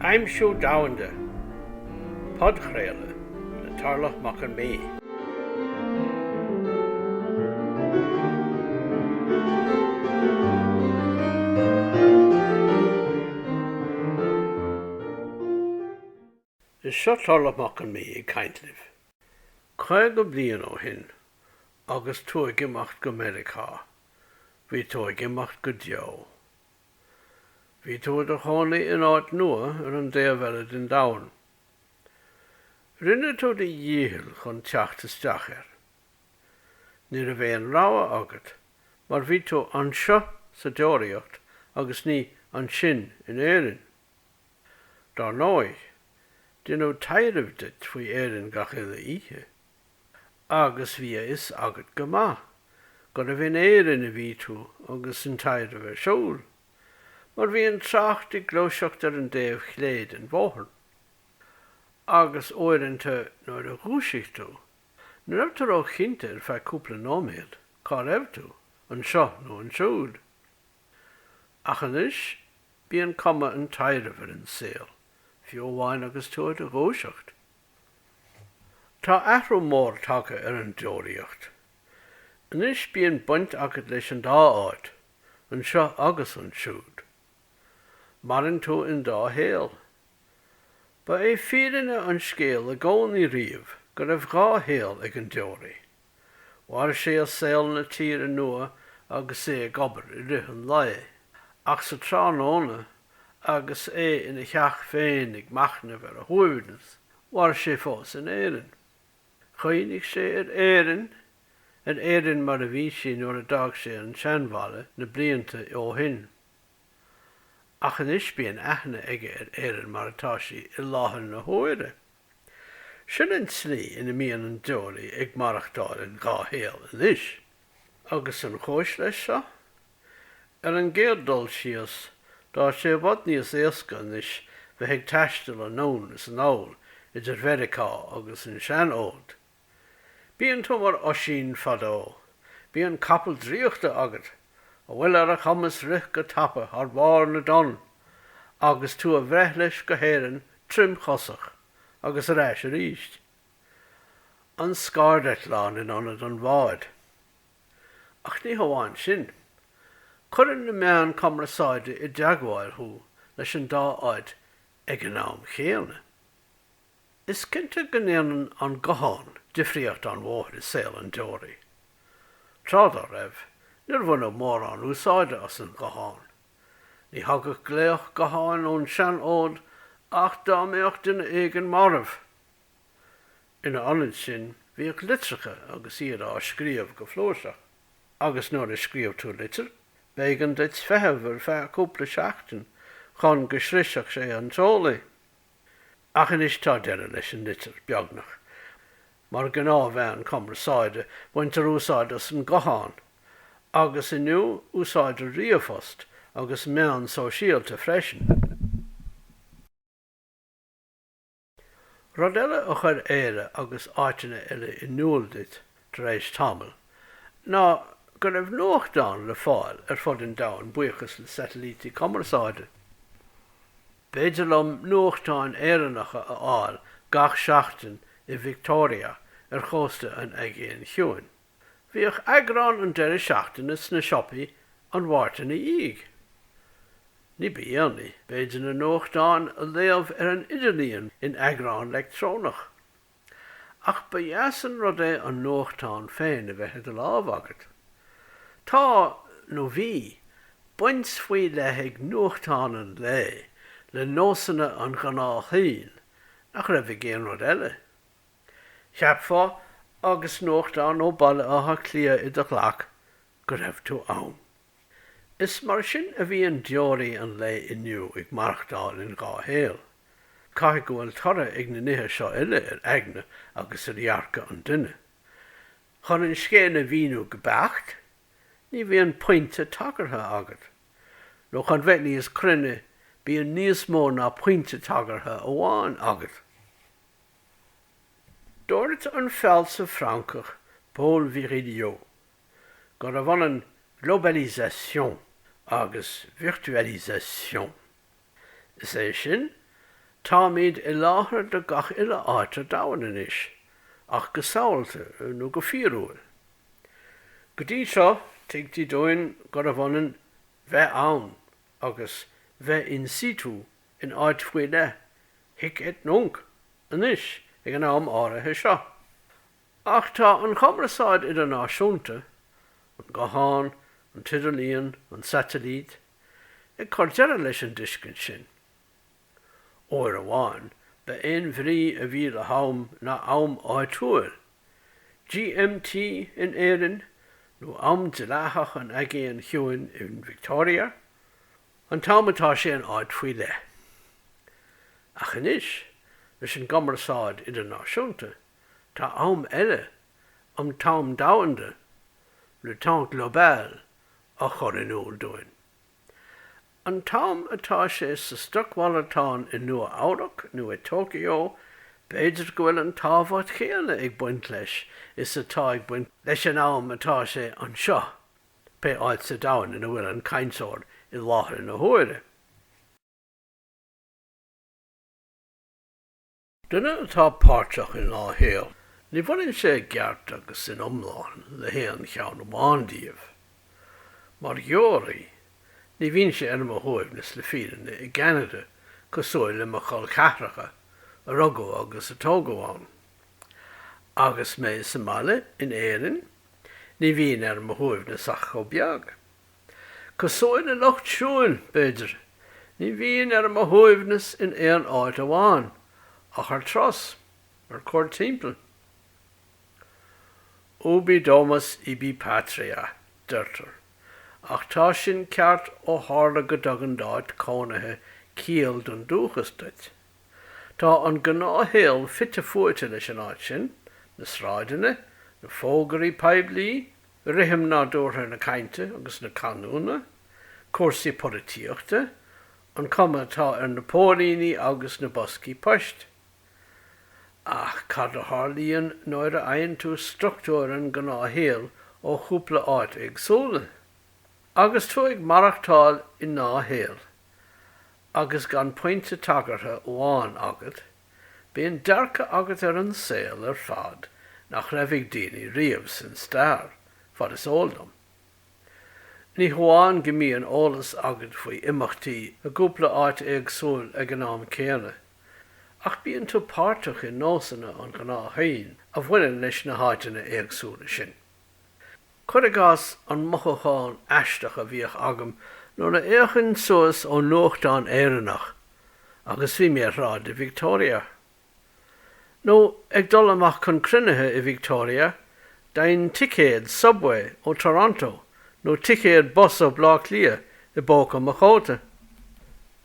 Aimsiú Domhanda, Podchraoladh le Tarlach Mac an Mhí. Is seo Tarlach Mac an Mhí ag caint libh. Caoga bliain ó shin, agus tú ag imeacht go Meiriceá, bhí tú ag imeacht go deo. Bhí tú i do chónaí in áit nua ar an dtaobh eile den domhan. Rinne tú do dhícheall chun teacht isteach air. Ní raibh aon rogha agat mar bhí tú anseo sa deoraíocht agus ní ansin in Éirinn. Dar ndóigh, deineadh taidhreamh duit faoi Éirinn gach uile oíche. agus bhí a fhios agat go maith gurbh in Éirinn a bhí tú agus an taidhreamh ar siúl, mar bhí an trácht ag gluaiseacht ar an dtaobh chlé den bhóthar. Agus uaireanta nuair a dhúisigh tú, ní raibh tú róchinnte ar feadh cúpla nóiméad cá raibh tú, anseo nó ansiúd. Ach anois bíonn cuma an taidhrimh ar an saol, fiú amháin agus tú i do dhúiseacht. Tá athrú mór tagtha ar an deoraíocht. Anois bíonn baint agat leis an dá áit, anseo agus ansiúd. Maireann tú in dá shaol. Ba é fírinne an scéil i gcónaí riamh go raibh dhá shaol ag an deoraí. Mhair sé i saol na tíre nua agus é ag obair i rith an lae, ach sa tráthnóna, agus é ina theach féin ag machnamh ar a shuaimhneas, mhair sé fós in Éirinn. Chuimhnigh sé ar Éirinn, ar Éirinn mar a bhí sí nuair a d'fhág sé an seanbhaile na blianta ó shin. Ach anois bíonn aithne aige ar Éirinn mar atá sí i láthair na huaire. Sin an slí ina mbíonn an deoraí ag maireachtáil in dhá shaol anois. Agus an chúis leis seo? Ar an gcéad dul síos, tá sé i bhfad níos éasca anois bheith ag taisteal anonn is anall idir Mheiriceá agus an seanfhód. Bíonn tú mar Oisín fadó. Bíonn capall draíochta agat, a bhfuil ar a chumas rith go tapa ar bharr na dtonn, agus tú a bhreith leis go hÉirinn tirimchosach, agus ar ais arís. An scairdeitleán in ionad an bháid. Ach ní hamháin sin. Cuireann na meáin cumarsáide i dteagmháil thú leis an dá áit ag an am chéanna. Is cinnte go ndéanann an guthán difríocht an-mhór i saol an deoraí. Tráth dá raibh, níor bhaineadh mórán úsáide as an ghuthán. Ní thagadh glaoch gutháin ón seanfhód ach dá mbeadh duine éigin marbh. Ina ionad sin, bhíodh litreacha agus iad á scríobh go flúirseach. Agus nuair a scríobh tú litir, b'éigean duit feitheamh ar feadh cúpla seachtain chun go sroisfeadh sé an t-eolaí. Ach anois tá deireadh leis an litir, beagnach. Mar ghnáthmheán cumarsáide, baintear úsáid as an nguthán, agus inniu, úsáidtear ríomhphost agus meáin shóisialta freisin. Rud eile a chuir Éire agus áiteanna eile in iúl duit, tar éis tamaill, ná go raibh nuachtáin le fáil ar fud an domhain buíochas le satailítí cumarsáide. B'fhéidir liom nuachtáin Éireannacha a fháil gach seachtain i Victoria ar chósta an Aigéin Chiúin. Bhíodh eagrán an deireadh seachtaine sna siopaí an Mháirt ina dhiaidh. Ní ba dhéanaí, b'fhéidir na nuachtáin a léamh ar an idirlíon in eagrán leictreonach. Ach ba dheas an rud é an nuachtán féin a bheith i do lámh agat. Tá, nó bhí, baint faoi leith ag nuachtáin an lae le nósanna an ghnáthdhuine nach raibh ag aon rud eile. Cheapfá, agus nuachtán ó Bhaile Átha Cliath i do ghlac, go raibh tú ann. Is mar sin a bhíonn deoraí an lae inniu ag maireachtáil in dhá shaol. Caithfidh go bhfuil toradh ag na nithe seo uile ar aigne agus ar dhearcadh an duine. Chun an scéal a mhíniú go beacht, ní bhíonn pointe tagartha agat. Nó chun bheith níos cruinne, bíonn níos mó ná pointe tagartha amháin agat. Dúirt an fealsamh Francach Paul Virilio. gurbh ionann globalisation agus virtualisation. Is é sin, táimid i láthair do gach uile áit ar domhan anois, ach go samhalta nó go fíorúil. Go dtí seo, tuigtí dúinn gurbh ionann bheith ann agus bheith in situ in áit faoi leith, hic et nunc, anois, ag an am áirithe seo, Ach tá an chumarsáid idirnáisiúnta, an guthán, an t-idirlíon, an tsaitilít, ag cur deireadh leis an dtuiscint sin. Uair amháin ba é an bhrí a bhí le ham ná am áitiúil, GMT in Éirinn, nó am dleathach an Aigéin Chiúin in Victoria, an t-am atá sé in áit faoi leith. Ach anois, leis an gcumarsáid idirnáisiúnta, Tá am eile, an t-am domhanda, le temps global, á chur in iúl dúinn. An t-am atá sé sa stocmhalartán i Nua-Eabhrac nó i Tokyo, b'fhéidir go bhfuil an tábhacht chéanna ag baint leis is atá ag baint leis an am atá sé anseo, pé áit sa domhan ina bhfuil an cainteoir i láthair na huaire. Duine atá páirteach i ndá shaol, ní bhaineann sé i gceart agus in iomlán le haon cheann amháin díobh. Mar dheoraí, ní bhímse ar mo shuaimhneas le fírinne i gCeanada cosúil le mo chol ceathracha a rugadh agus a tógadh ann. Agus mé sa mbaile in Éirinn, ní bhím ar mo shuaimhneas ach chomh beag. Cosúil le lucht siúil, b'fhéidir, ní bhím ar mo shuaimhneas in aon áit amháin, ach ar turas, ar cuaird timpeall. Ubi domus ibi patria, deirtear, ach tá sin ceart ó tharla go dtugann d'áit chónaithe ciall don dúchas duit. Tá an gnáthshaol fite fuaite leis an áit sin, na sráideanna, na fógraí poiblí, rithim nádúrtha na cainte agus na canúna, cúrsaí polaitíochta, an chuma atá ar na póilíní agus na boscaí poist. Ach cad a tharlaíonn nuair a fhaigheann tú struchtúir an ghnáthshaoil ó chúpla áit éagsúla? Agus tú ag maireachtáil in dhá shaol, agus gan pointe tagartha amháin agat Bíonn dearcadh agat ar an saol ar fad nach raibh ag daoine riamh san stair, fad is eol dom. Ní hamháin go mbíonn eolas agat faoi imeachtaí i gcúpla áit éagsúil ag an am céanna, ach bíonn tú páirteach i nósanna an ghnáthshaoil a bhaineann leis na háiteanna éagsúla sin. Cuir i gcás an mothúchán aisteach a bhíodh agam nuair a fhéachainn suas ón nuachtán Éireannach agus bhí mé ar shráid i Victoria. Nó ag dul amach chun cruinnithe i Victoria, d'fhaighinn ticéad subway ó Toronto nó ticéad bus ó Bhleá Cliath i bpóca mo chóta.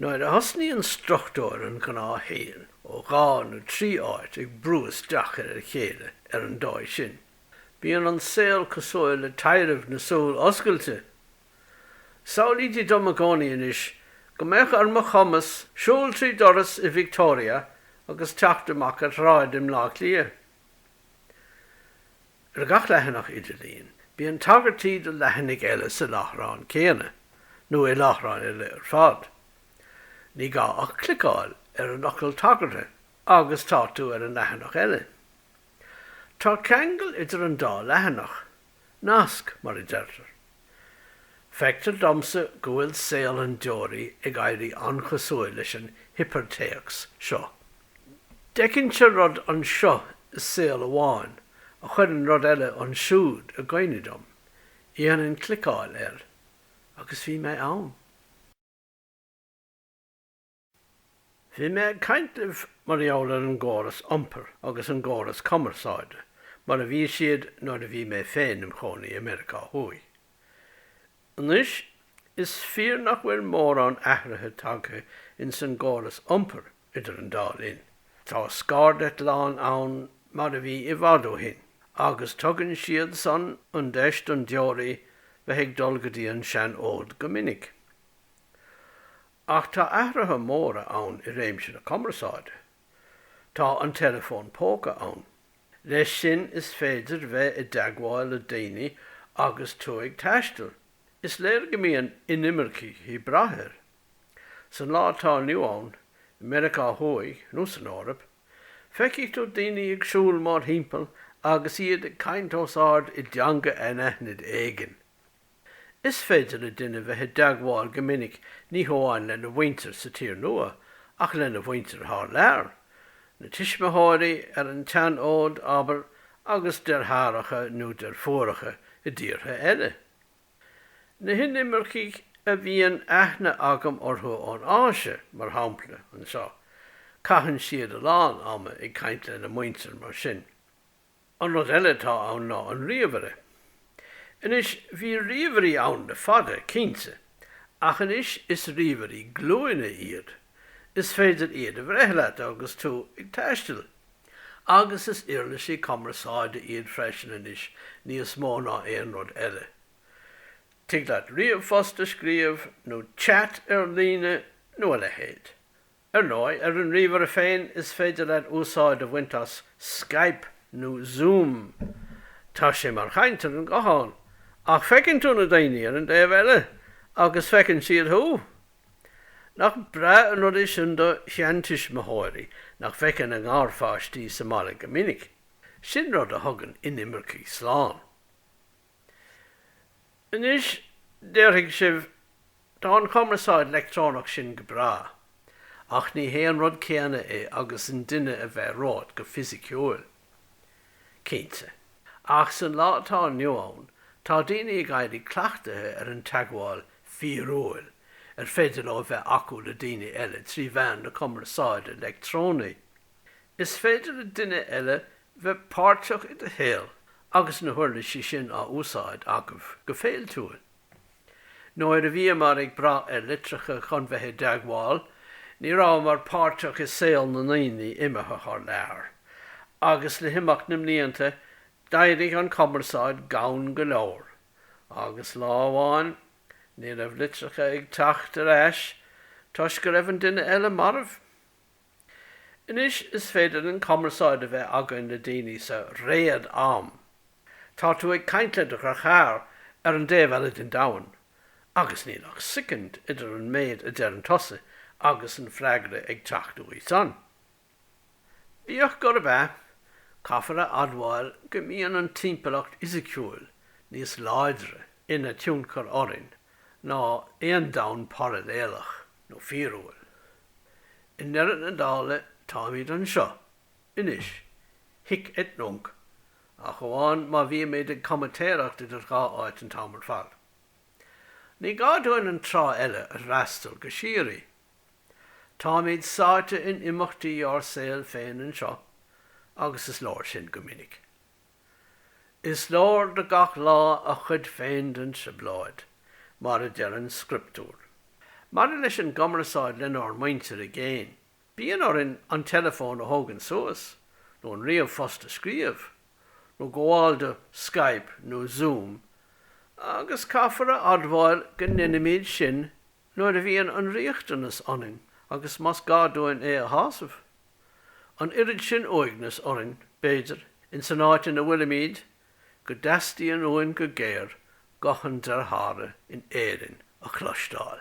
Nuair a thosnaíonn struchtúr an ghnáthshaoil ó dhá nó trí áit ag brú isteach ar a chéile ar an dóigh sin, Bíonn an saol cosúil le taibhreamh na súl oscailte. Samhlaítí dom i gcónaí anois go mbeadh ar mo chumas siúl trí dhoras i Victoria agus teacht amach ar shráid i mBleá Cliath. Ar gach leathanach idirlín, bíonn tagairtí do leathanaigh eile sa láithreán céanna, nó i láithreáin eile ar fad. Ní gá ach cliceáil ar an fhocal tagartha agus tá tú ar an leathanach eile. Tá ceangal idir an dá leathanach, nasc, mar a deirtear. Feictear domsa go bhfuil saol an deoraí ag éirí an-chosúil leis an hipirtéacs seo. D'fheicinnse rud anseo i saol amháin a chuireadh rud eile ansiúd i gcuimhne dom, dhéanainn cliceáil air agus bhí mé ann. Bhí mé ag caint libh mar gheall ar an gcóras iompair agus an gcóras cumarsáide mar a bhí siad nuair a bhí mé féin im chónaí i Meiriceá Thuaidh. Anois, is fíor nach bhfuil mórán athruithe tagtha ins an gcóras iompair idir an dá linn. Tá scairdeitleáin ann mar a bhí i bhfad ó shin, agus tugann siad san an deis don deoraí bheith ag dul go dtí an sean-fhód go minic. Ach tá athruithe móra ann i réimse na cumarsáide. Tá an teileafón póca ann. Leis sin is féidir bheith i dteagmháil le daoine agus tú ag taisteal. Is léir go mbíonn inimircigh ag brath air. San lá atá inniu ann, i Meiriceá Thuaidh nó san Eoraip, feicfidh tú daoine ag siúl mórthimpeall agus iad ag caint os ard i dteanga anaithnid éigin. Is féidir le duine bheith i dteagmháil go minic ní hamháin lena mhuintir sa tír nua ach lena mhuintir thar lear, na tuismitheoirí ar an tseanfhód, abair, agus deartháireacha nó deirfiúracha i dtíortha eile. Na hinimircigh a bhíonn aithne agam orthu ón Áise, mar shampla, anseo, caitheann siad a lán ama ag caint lena muintir mar sin. An rud eile atá ann ná an ríomhaire. Anois, bhí ríomhairí ann le fada, cinnte, ach anois is ríomhairí glúine iad. Is féidir iad a bhreith leat agus tú ag taisteal. Agus is uirlisí cumarsáide iad freisin anois níos mó ná aon rud eile. Tig leat ríomhphost a scríobh, nó chat ar líne, nó a leithéid. Ar ndóigh, ar an ríomhaire féin is féidir leat úsáid a bhaint as Skype nó Zoom. Tá sé mar chaint ar an ghuthán, ach feiceann tú na daoine ar an dtaobh eile, agus feiceann siad thú. Nach breá an rud é sin do sheantuismitheoirí nach bhfeiceann a ngarpháistí sa mbaile go minic? Sin rud a thugann inimircigh slán. Anois, déarfaidh sibh, tá an cumarsáid leictreonach sin go breá, ach ní hé an rud céanna é agus an duine a bheith romhat go fisiciúil. Cinnte. Ach san lá atá inniu ann, tá daoine ag éirí cleachtaithe ar an teagmháil fíorúil ar féidir leo a bheith acu le daoine eile trí mheán na cumarsáide leictreonaí. Is féidir le duine eile bheith páirteach i do shaol agus na huirlisí sin á úsáid agaibh go féiltiúil. Nuair a bhíomar ag brath ar litreacha chun bheith i dteagmháil, ní rabhamar páirteach i saol na ndaoine imithe thar lear, agus le himeacht na mblianta d'éirigh an cumarsáid gann go leor, agus lá amháin ní raibh litreacha ag teacht ar ais toisc go raibh an duine eile marbh. Anois is féidir linn cumarsáid a bheith againn le daoine sa réad am. Tá tú ag caint le do chara ar an dtaobh eile den domhan, agus níl ach soicind idir an méid a deireann tusa agus an freagra ag teacht uaidh san. Bíodh gurb ea, caithfear a admháil go mbíonn an timpeallacht fhisiciúil níos láidre ina tionchar orainn ná aon domhan parailéalach. nó fíorúil. I ndeireadh na dála, táimid anseo, anois, hic et nunc, ach amháin má bhímid ag comaitéireacht idir dhá áit an t-am ar fad. Ní gá dúinn an trá eile a fhreastal go síoraí. Táimid sáite in imeachtaí ár saoil féin anseo, agus is leor sin go minic. Is leor do gach lá a chuid féin den trioblóid, mar a deir an scrioptúr. Maidir leis an gcumarsáid lenár muintir i gcéin, bíonn orainn an teileafón a thógaint suas, nó an ríomh-phost a scríobh, nó gabháil do Skype nó Zoom, agus caithfear a admháil go ndeinimid sin nuair a bhíonn an riachtanas ionainn agus más gá dúinn é a shásamh. An oiread sin uaignis orainn, b'fhéidir, ins an áit ina bhfuilimíd, go dteastaíonn uainn go géar guth an dearthára in Éirinn a chloisteáil.